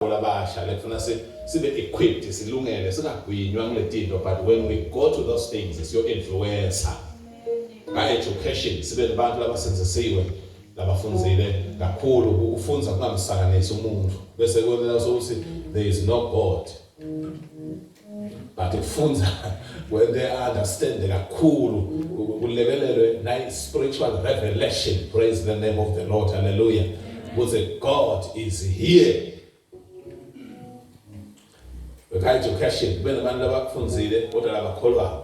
kakhulu abasha like funa si sibe equipped silungele singagwinywa kuletinto but when we go to those things siyo influencer ka education sibe nabantu labasenzisiwe labafunzile kakhulu ukufunza kungamsakanisi umuntu bese kwena sokuthi there is no god but ukufunza when they understand kakhulu kulekelelwe nayi spiritual revelation praise the name of the lord hallelujah ukuthi god is here without education kube nabantu abakufunzile kodwa labakholwayo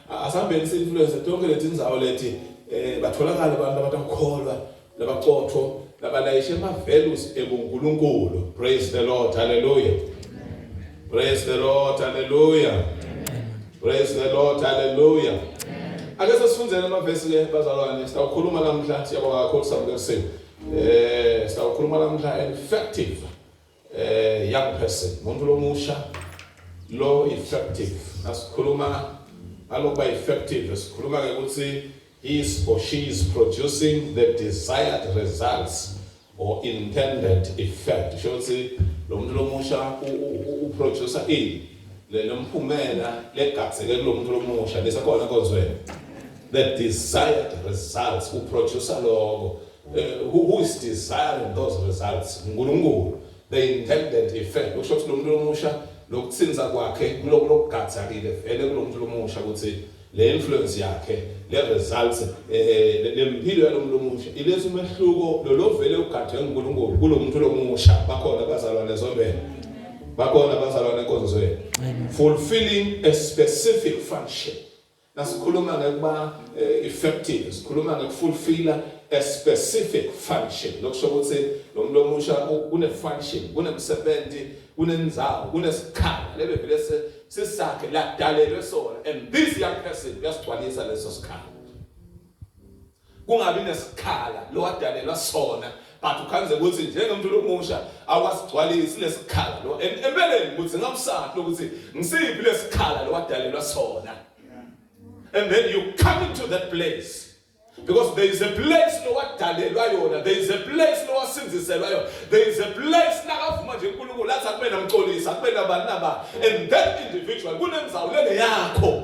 Asihambeni si influence tonke letindzawo leti eh batholakala abantu abatakukholwa labacotho labalayishe ama values ebuNkulunkulu. Praise the Lord. Hallelujah. Praise the Lord. Hallelujah. Praise the Lord. Hallelujah. Ake sesifundele ama verse ke bazalwane sitawukhuluma namhla siyabonga kakhulu sabuke kusiwe. Eh sitawukhuluma namhla effective Eh young person, umuntu lomusha lo effective. Asikhuluma alokuba effective, esikhuluma ke ukuthi he is or she is producing the desired results or intended effect. Sho ukuthi lo muntu lomusha uproducer ini le nomphumela legatseke kulo muntu lomusha lesakhona konzweni the desired results uproducer lokho Uh, who, who is desiring those results unkulunkulu the intended effect kusho ukuthi lo muntu lomusha lokuthinza kwakhe kulokugadzakile vele kulo muntu lomusha ukuthi le influence yakhe le results eh le mpilo yalo muntu omusha iletha umehluko lo lovele ugadwe nguNkulunkulu kulo muntu lomusha bakhona abazalwane ezondweni bakhona abazalwane enkonzweni fulfilling a specific function Nasikhuluma ngekuba eh, effective, sikhuluma ngekufulfilla a specific function. Lokusho ukuthi lo muntu omusha une-function, unemsebenzi, unenzawo, unesikhala. Lebe vele sisakhe ladalelwe sona and this young person uyasigcwalisa leso sikhala. kungabi nesikhala lo adalelwa sona but ukhanze ukuthi njengomuntu lomusha awasigcwalisi lesikhala lo empeleni ukuthi ngamsaphi lokuthi ngisiphi lesikhala lo adalelwa sona and then you come into that place because there is a place lowadalelwa yona there is a place lowasinziselwa yona there is a place nakavuma nje uNkulunkulu athi akube namxolisa akube nabani naba and that individual kunenzawu lele yakho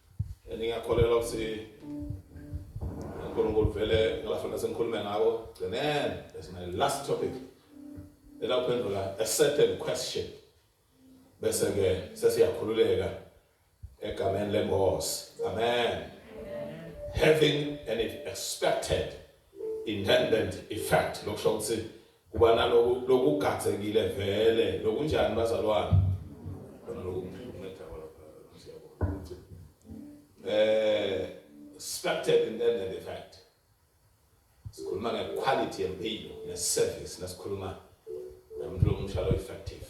Ningakholelwa ukuthi uNkulunkulu vele ngalafanele sengikhulume ngako gcinene that's my last topic elaphendula a certain question bese ke sesiyakhululeka egameni lenkosi amen having an expected intended effect lokusho ukuthi Kuba naloku lokugadzekile vele lokunjani bazalwane? Khona lokumnceda kodwa siyabona ukuthi eh suspected in the the fact. Sikhuluma nge quality yempilo ne service nasikhuluma nomuntu lomusha lo effective.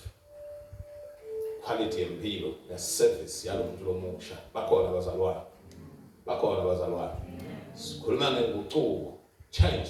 Quality yempilo ne service yalomuntu lomusha bakhona bazalwane. Bakhona bazalwane. Sikhuluma ngenguquko change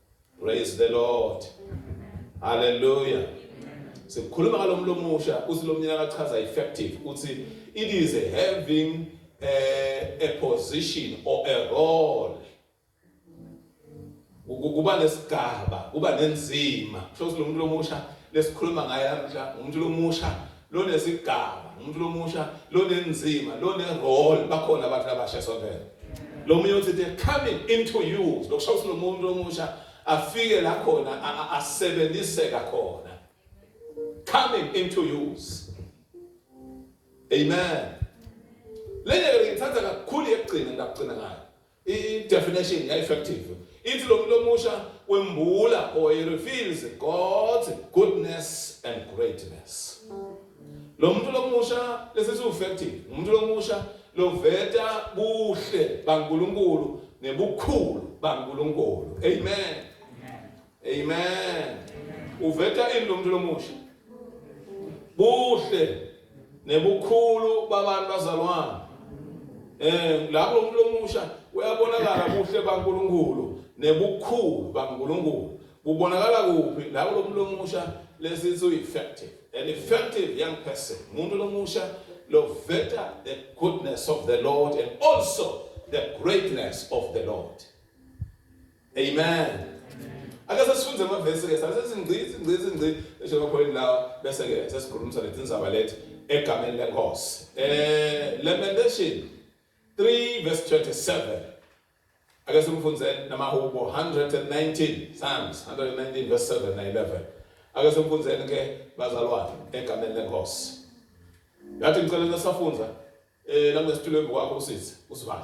Praise the Lord. Hallelujah. Sekukhuluma ngalomlo omusha uthi lomnyaka akachaza effective uthi it is having a, a position or a role kuba nesigaba kuba nenzima kusho ukuthi lo muntu lomusha lesikhuluma ngaye namhla umuntu lomusha lonesigaba umuntu lomusha lonenzima lonerole bakhona abantu abasha sonkela lo munye uthi they're coming into you lokusho ukuthi lo muntu lomusha afike la khona asebenziseka khona coming into use amen lenye ngithatha kakhulu yekugcina ngakugcina ngayo I-definition ya-effective ithi lo muntu omusha wembula or he reveals God's goodness and greatness. Lo muntu lomusha lesi si-effective umuntu lomusha loveta buhle baNkulunkulu nebukhulu baNkulunkulu. Amen. Amen. Uveta ini lo muntu lomusha? Buhle nebukhulu babantu bazalwane. Eh lapho umuntu lomusha uyabonakala buhle baNkulunkulu nebukhulu baNkulunkulu. Kubonakala kuphi lapho lo muntu lomusha lesithi ueffective. An effective young person. Umuntu lomusha loveta the goodness of the Lord and also the greatness of the Lord. Amen. Ake sesifunde amavesi ke sase singcizi ngcizi ngcizi esho bakholeni lawa bese ke sesikhulumisa lezi ndzaba lethi egameni lenkosi. Eh Lamentation 3 verse 27. Ake simfunze namahubo 119 Psalms 119 verse 7 na 11. Ake simfunzeni ke bazalwane egameni lenkosi. Yathi ngicela safunza eh langesitulo embi kwakho usisi usivale.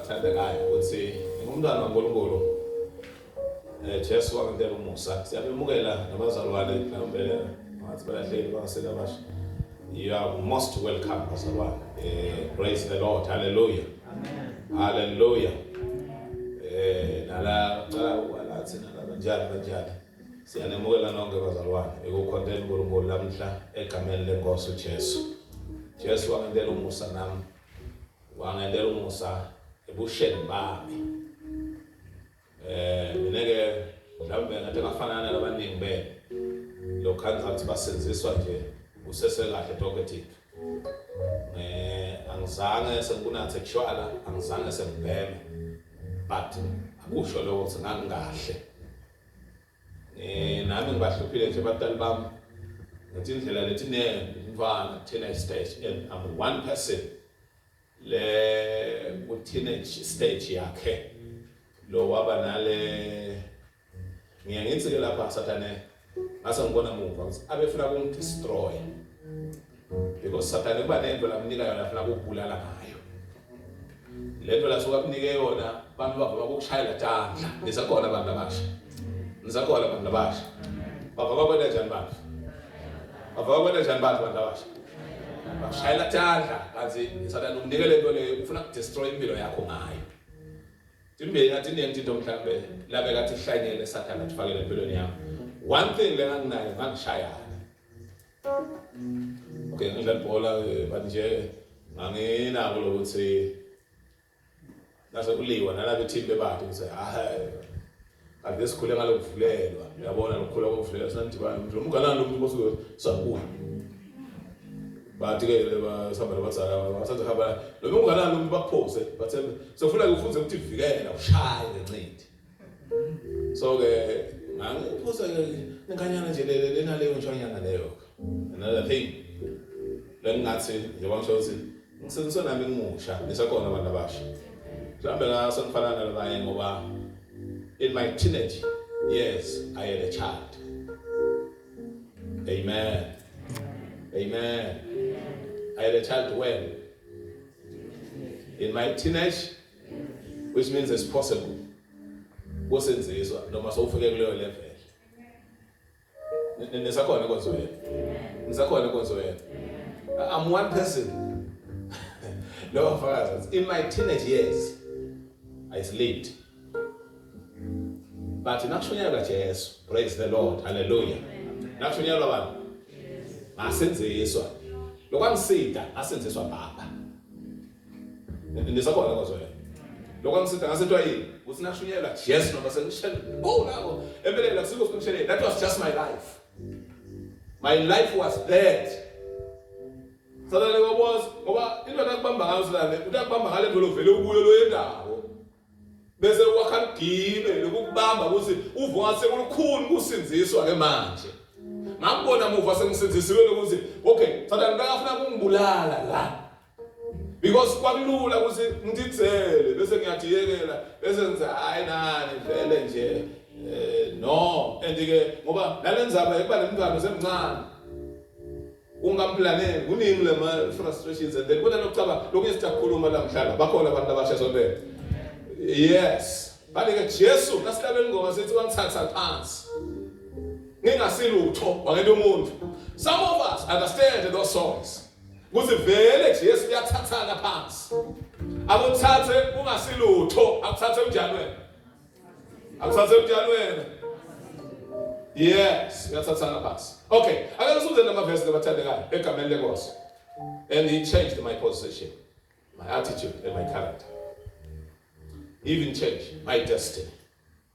Thandekayo ukuthi ngumntwana waNkulunkulu eh Jesu wangitela umusa siyabemukela nabazalwane mhlawumbe ngathi balahleli bangasela abasha you are most welcome bazalwane eh praise the lord hallelujah amen hallelujah eh nala cala walathi nala kanjani kanjani siyanemukela nonke bazalwane ekukhonteni uNkulunkulu lamhla egameni lenkosi uJesu Jesu wangitela umusa nami Wangentela umusa ebusheni bami. Eh mina ke mhlawumbe ngathi ngafana nalabaningi benu. Lokho angizathi basenziswa nje usese kahle talkative. Eh angizange sengikunathe tshwala, angizange sengibheme. But akusho lokho ukuthi ngangikahle. Eh nami ngibahluphile nje abantwana bami. Ngathi indlela lethi ne mfana thina istage and I'm one person. Le ku teenage stage yakhe. Lo waba nale ngiye ngithi ke lapha sathane ngase ngibona muva ukuthi abefuna ukumdestroy. Because Satan kuba nento lakunika yona afuna ukubulala ngayo. Lento la suka kunike yona abantu bavuma ukushayela tandla. Nisakhona abantu abasha. Nisakhona abantu abasha. Baba bakwenda njani bantu? Baba bakwenda njani bantu abantu abasha? Bashayela tandla kanti Satan ukunike lento leyo ufuna ukudestroy impilo yakho ngayo. Imbeyi ngathi iningi into mhlambe labe kathi ihlanyele Satan athifakele empilweni yakho. One thing lenganginayo ngangishayana. Okay, ngidlala ibhola eh, but nje nganginako lokuthi nase kuliwa nalabo team bebade ngithi hayi ake sikhule ngalokuvulelwa uyabona lokukhula kokuvulelwa sinathi bani nje umgalani lomuntu bosuke sakuwa bathi ke basihamba nabazala bathatha hamba lo mngalani lomuntu bakuphose bathe sofuna kufunze ukuthi vikela ushaye ngencindi so ke ngangiphuza inkanyana nje lele lena leyo ntshwanyana leyo another thing lengingathi njengoba ngisho ukuthi ngisenziswe nami ngimusha nisakhona abantu abasha mhlawumbe ngaso ngifana nalabanye ngoba in my teenage years i had a child amen amen i had a child when in my teenage which means it's possible kusenzizwa noma sowufike kuleyo level nisakhona inkonzo yenu nisakhona inkonzo yenu i'm one person lowo mfakazi in my teenage years i slept but nakushunyayelwa jesu praise the lord hallelujah nakushunyayelwa bani ngasenziswa lokwangisida asenziswa baba Nisabona bazwela. Lokho angisitha ngasithiwa yini? Ukuthi nashunyelwa Jesu noma sengishela. Oh lawo empeleni akusiko sengishela. That was just my life. My life was dead. Sadale waboza ngoba into nakubamba ngayo sadale utakubamba ngale ndolo vele ubuye lo yendawo. Bese wakha ligibe lokubamba ukuthi uvuka sekulukhulu kusinziswa ke manje. ngakubona muva sengisinzisiwe lokuthi okay sathane bekafuna kungibulala la because kwakulula ukuthi ngidizele bese ngiyadiyekela bese ngithi hayi nani vele nje eh no and ke ngoba nalenzaba ekuba nemngane semncane ungamplaneli kuningi lema frustrations and then kunalo kucaba lokunye sitakhuluma la mhlala bakhona abantu abasha sontela yes bale ke Jesu nasihlabela ingoma sithi wangithatha phansi ngingasilutho wangento umuntu some of us understand those songs Kuthi vele Jesu uyathathana phansi. Akuthathe ungasilutho, akuthathe unjani wena? Akuthathe unjani wena? Yes, uyathathana phansi. Okay, ake sifunde lama verse labathandekayo egameni lenkosi. And he changed my position, my attitude and my character. He even changed my destiny.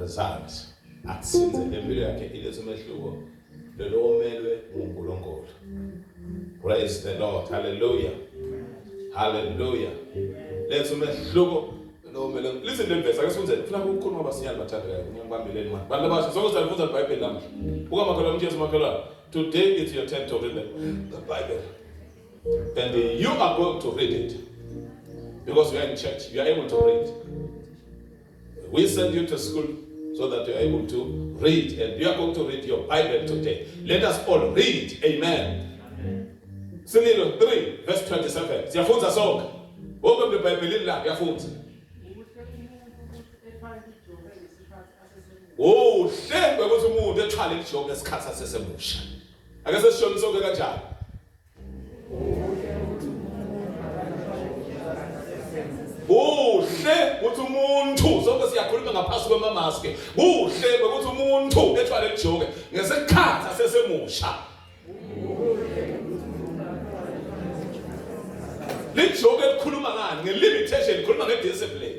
results akusinze lempilo yakhe ilethe umehluko lelo omelwe nguNkulunkulu praise the lord hallelujah hallelujah letha umehluko lo mele listen le verse ake sifunze funa ukukhuluma abasiyali bathandekayo ngiyangibambeleni manje bantu abasha sonke salifunza iBhayibheli namuhla buka makhelwane umjesu makhelwane today it's your turn to read the, the Bible and you are going to read it because you are in church you are able to read We send you to school so that you are able to read and you are going to read your Bible today. Let us all read. Amen. Sinilo 3 verse 27. Siyafunza sonke. Wonke umuntu eBhayibhelini la uyafunza. Uhle ukuthi umuntu ethwale ijoke esikhathi asesemusha. Ake sesishonise sonke kanjani? kuhle ukuthi umuntu sonke siyakhuluma ngaphansi kwemamaske kuhle ukuthi umuntu ethwale lijoke ngesikhathi asesemusha lijoke likhuluma ngani ngelimitation likhuluma ngediscipline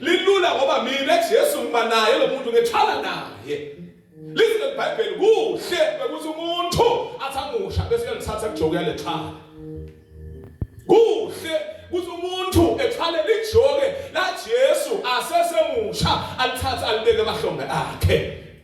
Lilula ngoba mina Jesu ngiba naye lo muntu ngethwala naye. Lizwe iBhayibheli kuhle ukuthi umuntu athamusha bese uyalithatha kujoku yalethwala. Kuhle ukuthi umuntu ethwale lijoke la Jesu asesemusha alithatha alibeke emahlombe akhe.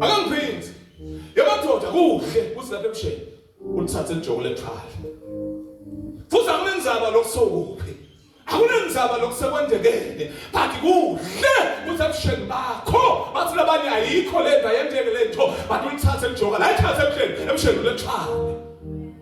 Akangiphindi. Yamadoda kuhle kuthi lapha ebusheni ulithathe ijoko lethwala. Futhi akunenzaba lokusokuphi. Akunenzaba lokusekwendekene. But kuhle kuthi ebusheni bakho bathi labanye ayikho lento ayenteke lento but ulithathe ijoko la ithathe ebusheni ebusheni lethwala.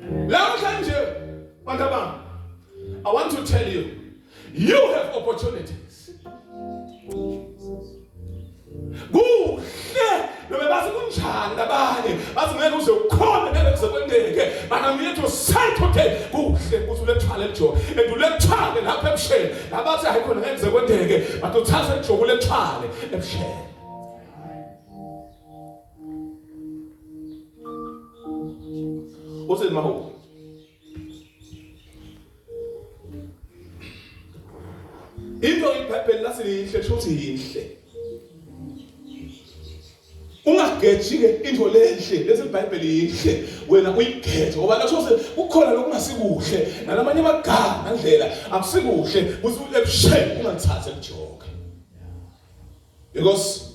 Namhlanje bantu bami I want to tell you you have opportunities. Kuhle noma bathi kunjani abanye bathi ngeke uze ukhona ngeke kuze kwendeke but I'm here to say today kuhle ukuthi ulethwale eJobe and ulethwale lapha ebusheni labathi hayi khona ngeke kuze kwendeke but uthatha eJobe ulethwale ebusheni Uthini mahubo? Into iBhayibheli lathi lihle shothi yinhle. Ungageji-ke into lenhle lesi iBhayibheli yinhle wena uyigeze ngoba lasho kukhona lokungasikuhle nalamanye amagama ngandlela akusikuhle ukuthi ulebusheni ungathathi elijoka. Because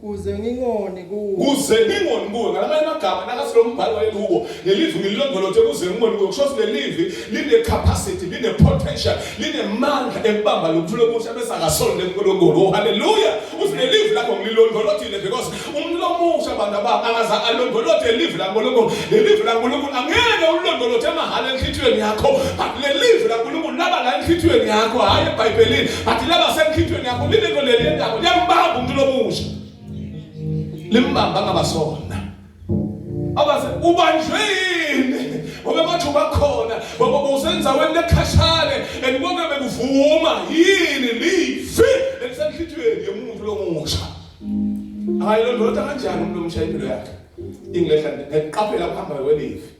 Kuze ngingoni kuwe. Kuze ngingoni kuwe ngalamanye amagama nakathi lo mbhalo wayekuwo lelivi ngililondolothe kuze ngingoni kuwe kusho ukuthi lelivi line capacity line potential line mandla ekubamba lokuthula okusha bese akasonde enkulunkulu oh haleluya uthi lelivi lakho ngililondolothile because umuntu omusha abantu abami akaza alondolothe lelivi lankulunkulu lelivi lankulunkulu angeke ulondolothe emahhala enhlitiyweni yakho but lelivi lankulunkulu laba la enhlitiyweni yakho hhayi ebhayibhelini But laba semkhithweni yakho lilento leli lendawo liyambamba umuntu lomusha. Limbamba ngabasona. Abaze ubanjwe yini? Ngoba bathu bakhona, ngoba usenza wena ekhashane and konke bekuvuma yini lifi elisenhlithweni yomuntu lomusha. Hayi lo ndoda kanjani umuntu omsha impilo yakhe? Ingehla ngiqaphela ukuhamba kwelifi.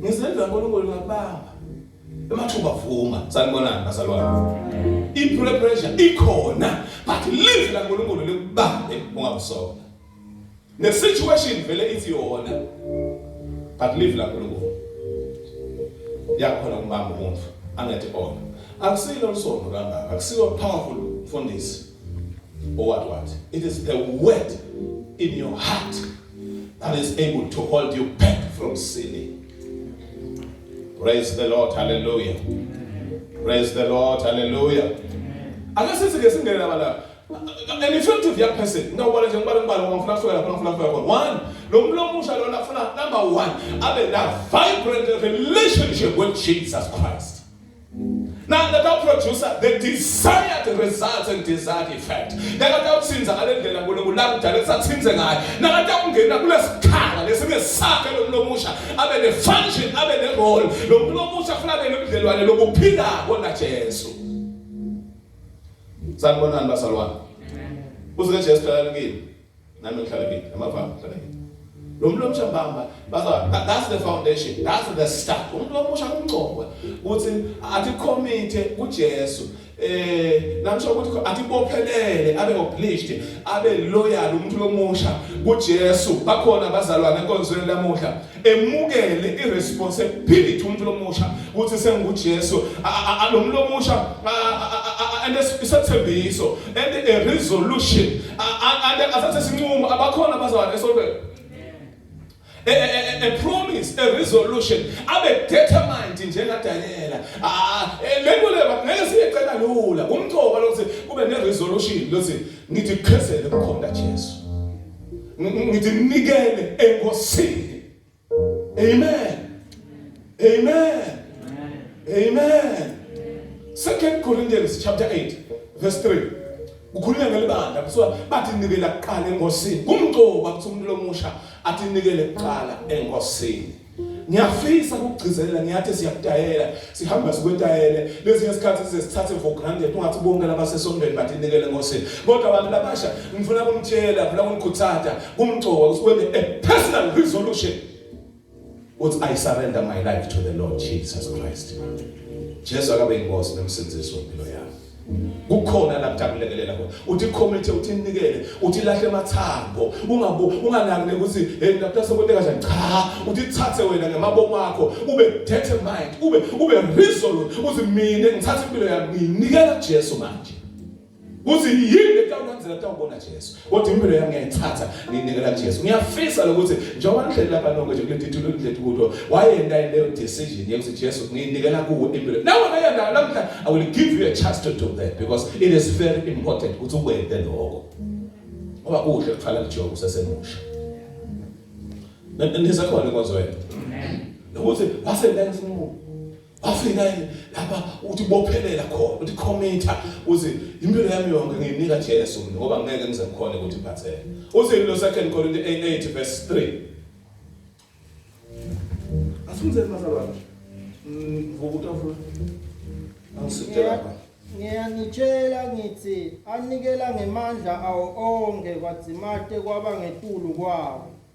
Ngizendla uNkulunkulu ngakubamba. Emathuba vuma, sanibonani bazalwane. I-peer pressure ikhona, but live la uNkulunkulu likubambe ungabusona. Ne situation vele ithi yona. But live la uNkulunkulu. Yakhona umbamba umuntu angathi ona. Akusilo isono kangaka, akusiyo powerful mfundisi. What, what? It is the word in your heart that is able to hold you back from sinning. Praise the Lord. Hallelujah. Praise the Lord. Hallelujah. Akasisi ke singene laba la. An effective young person. Ngawubala nje ngibala ngibala ngifuna kusuka lapha ngifuna kusuka khona. One, lo muntu omusha lona ufuna number 1 abe na vibrant relationship with Jesus Christ. Now that our producer, the desired results and desired effect. Nakatawutsinza ngale ndlela Nkulunkulu lakudala kusatsinze ngayo. Nakatawungena kulesikhala lesinge sakhe lomuntu omusha abe ne function abe ne role. Lo muntu omusha funa abe nobudlelwane lokuphila kona Jesu. Sanibonani basalwane. Uze Jesu dala kimi. Nami ngihlala kithi. Amavanga ngihlala kithi. Lo mlomo shambamba baza that's the foundation. That's the start. Umuntu omusha kumncokwa ukuthi athi committee kuJesu. Eh namsho ukuthi athi bophelele abe obliged abe loyal umuntu lomusha kuJesu. Bakhona abazalwane enkonzweni lamuhla. emukele iresponsibility umuntu lomusha ukuthi senguJesu alomlo omusha and isethembiso and a resolution and asathe sinqumo abakhona bazalwane esontweni a, a, a promise a resolution abe determined njengadanyela ah, eh, lento le ngeke siyecela lula kumcoba lokuthi kube ne resolution lokuthi ngithi khesele kukhona Jesu ngithi nikele enkosini amen amen amen second corinthians chapter 8 verse 3 kukhulunywa ngelibandla kuthiwa bathi nikela kuqala enkosini kumgcoba kuthi umuntu lomusha athi nikele kuqala enkosini ngiyafisa ukugcizelela ngiyathi siyakudayela sihamba sikwetayele lezinye isikhathi size sithathe for granted ungathi bonke labasesondweni badinikele ngosini kodwa abantu labasha ngifuna kumtshela ngifuna kumkhuthatha kumgcoka usikwende a personal resolution uthi i surrender my life to the lord jesus christ jesu akabe inkosi nomsindisi wempilo yami kukhona la kujabulekelela khona uthi committee uthi ninikele uthi lahle amathambo ungabu unganakile ukuthi hey lapha sokwente kahle cha uthi thathe wena ngemabomo akho ube determined ube ube resolute uthi mina ngithatha impilo yami nginikela Jesu manje kuthi yini letawulandzela tawubona Jesu kodwa impilo yami ngiyayithatha nginikela kuJesu ngiyafisa lokuthi njengoba nihleli lapha nonke nje kuleti thulo kuleti kudo wayenda leyo decision yokuthi Jesu nginikela kuwe impilo nawe ngayenda namhla i will give you a chance to do that because it is very important ukuthi ukwende lokho ngoba kuhle kuqala kuJobe usesemusha nisakhona inkonzo yethu nokuthi wasenda ngesinqumo wafika yini lapha ukuthi bophelela khona ukuthi committer uthi impilo yami yonke ngiyinika Jesu mina ngoba ngeke ngize ngikhone ukuthi ngiphatheke uthi lo second Corinthians 8 verse 3 asunze mazalwane ngokutafula angisitela ngiyanitshela ngithi anikela ngemandla awo onke kwadzimate kwaba ngetulu kwawo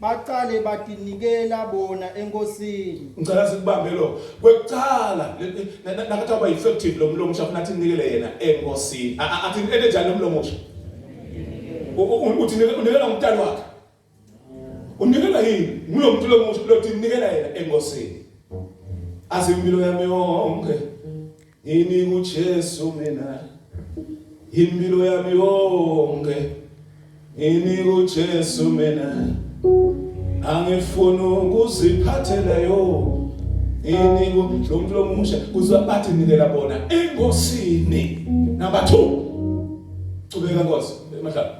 baqale batinikela bona enkosini ngicela sikubambe lo kwekucala nakathi aba effective lo mlomo usha kunathi nikele yena enkosini athi into enjani lo mlomo usha uthi unikela umntana wakhe unikela yini ngulo muntu lo muntu lo uthi nikela yena enkosini azimpilo yami yonke Ini kuJesu mina impilo yami yonke Ini kuJesu mina angifuni ukuziphathela yo Ini kumuntu lomusha kuzwa bathi nikela bona engosini number 2 Cubeka Nkosi emahlala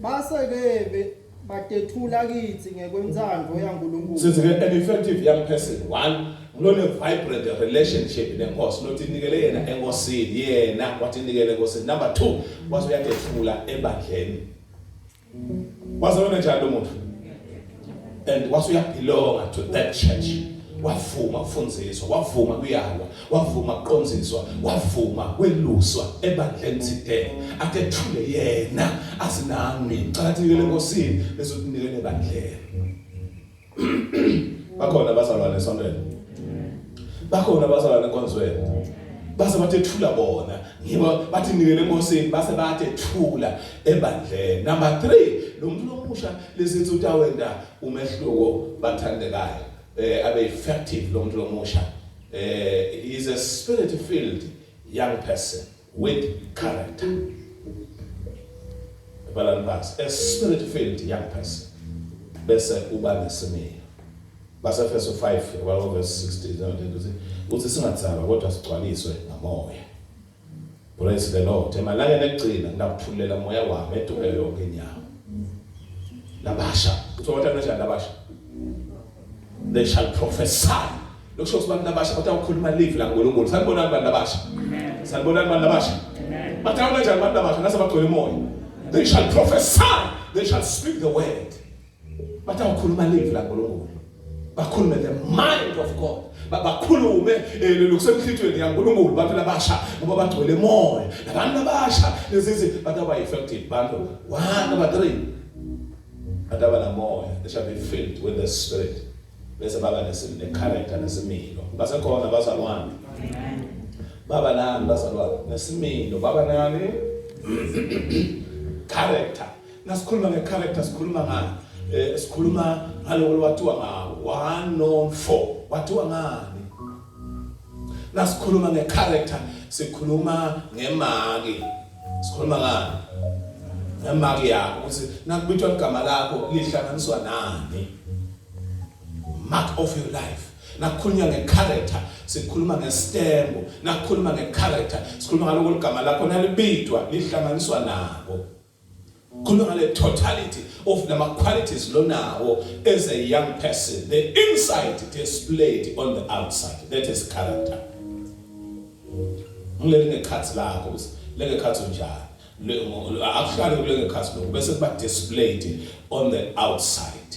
Base bebe Badethula kithi ngekwentsandvo yaNkulunkulu. Sithi ke an effective young person one lone vibrant relationship nenkosi lothi inikele yena enkosini yena wathi inikele enkosini number 2 wathi uyadethula ebandleni waze wena njalo lo muntu and wathi uyabelonga to that church wavuma kufundiswa wavuma kuyalwa wavuma kuqonziswa wavuma kweluswa ebandleni today akethule yena asinami cakathekile nkosini bese unikele ebandleni bakhona abazalwane esontweni bakhona abazalwane enkonzweni base bathethula bona ngiba bathi nikele enkosini base bathethula ebandleni number 3 lo muntu lomusha lesithi utawenda umehluko bathandekayo eh abe effective lo muntu lomusha Uh, is a spirit filled young person with character. Balanibas, a spirit filled young person. Bese uba nesimilo. Basefeso 5 verse 16 uthi singathaba kodwa sigcwaliswe ngamoya. Praise the Lord. Emalangeni ekugcina nginakuthululela moya wami eduke yonke inyama. Labasha, uthola kanjani labasha? They shall prophesy. Lokusho ukuthi abantu abasha kodwa ukhuluma live la uNkulunkulu. Sanibona abantu abasha. Sanibona abantu abasha. Bathawu kanjani abantu abasha nase bagcwele umoya. They shall prophesy. They shall speak the word. bathi awukhuluma live la Nkulunkulu bakhulume the mind of God bakhulume eh, lokusemhlithweni yaNkulunkulu bantu labasha ngoba bagcwele moya labantu labasha lezizi bathi aba effective bantu one number 3 bathi aba namoya they shall be filled with the spirit bese baba nesimile character nesimilo basekhona bazalwane baba nani bazalwane nesimilo baba nani character Nasikhuluma nge character sikhuluma ngani? Eh sikhuluma ngaloko lwathiwa nga 1 no 4. Wathiwa ngani? Nasikhuluma nge character sikhuluma ngemaki. Sikhuluma ngani? Ngemaki yakho ukuthi nakubithwa igama lakho lihlanganiswa nani? Mark of your life. nakukhulunywa ngecharacter sikhuluma ngestembu nakukhuluma ngecharacter sikhuluma ngaloko ligama lakho nalibidwa lihlanganiswa nabo Khuluma ngale totality of lama qualities lonawo as a young person. The inside displayed on the outside. That is character. Ngilele ngekhathi lakho ukuthi lengekhathi unjani. Akuhlale kulengekhathi lokho bese kuba displayed on the outside.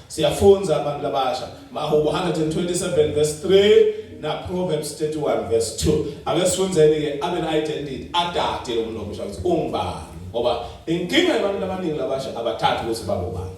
Siyafunza abantu abasha. Mahubo 127 verse 3 na Proverbs 31 verse 2. Ake sifunzeni ke abe na identity adade lo muntu omusha ukuthi ungubani. Ngoba inkinga yabantu abaningi labasha abathathi ukuthi babobani.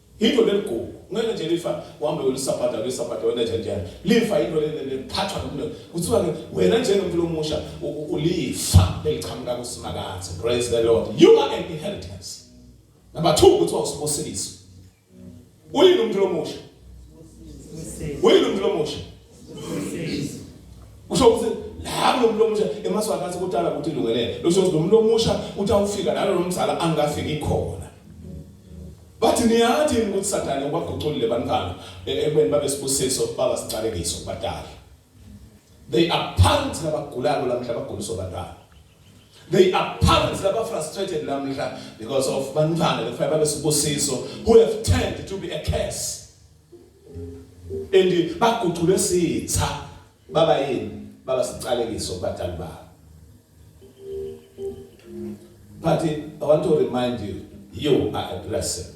Yinto leligugu ngeke nje lifa uhambe ulisabhada ulisabhada wena nje njani lifa yinto leliphathwa nokulo kuthiwa ke wena njengomuntu lomusha ulifa leliqhamuka kusimakathe praise the lord you are an inheritance number 2 kuthiwa usibusiso uyini umuntu lomusha uyini umuntu lomusha usho ukuthi la kulomuntu lomusha emaswaka athi kudala ukuthi ilungelele usho ukuthi lomuntu lomusha utawufika nalo lomzala angafiki khona Bathi niyathi yini ukuthi Sathane ubaguculile bantwana e-, ekubeni babe sibusiso baba siqalekiso kubadala. They are parents labagulako lamhla baguliswa bantwana. They are parents laba frustrated lamhla because of bantwana bekufanele babe sibusiso who have turned to be a curse. And baguculwe sitha Baba yini? Baba siqalekiso kubadali babo. But I want to remind you, you are a blessing.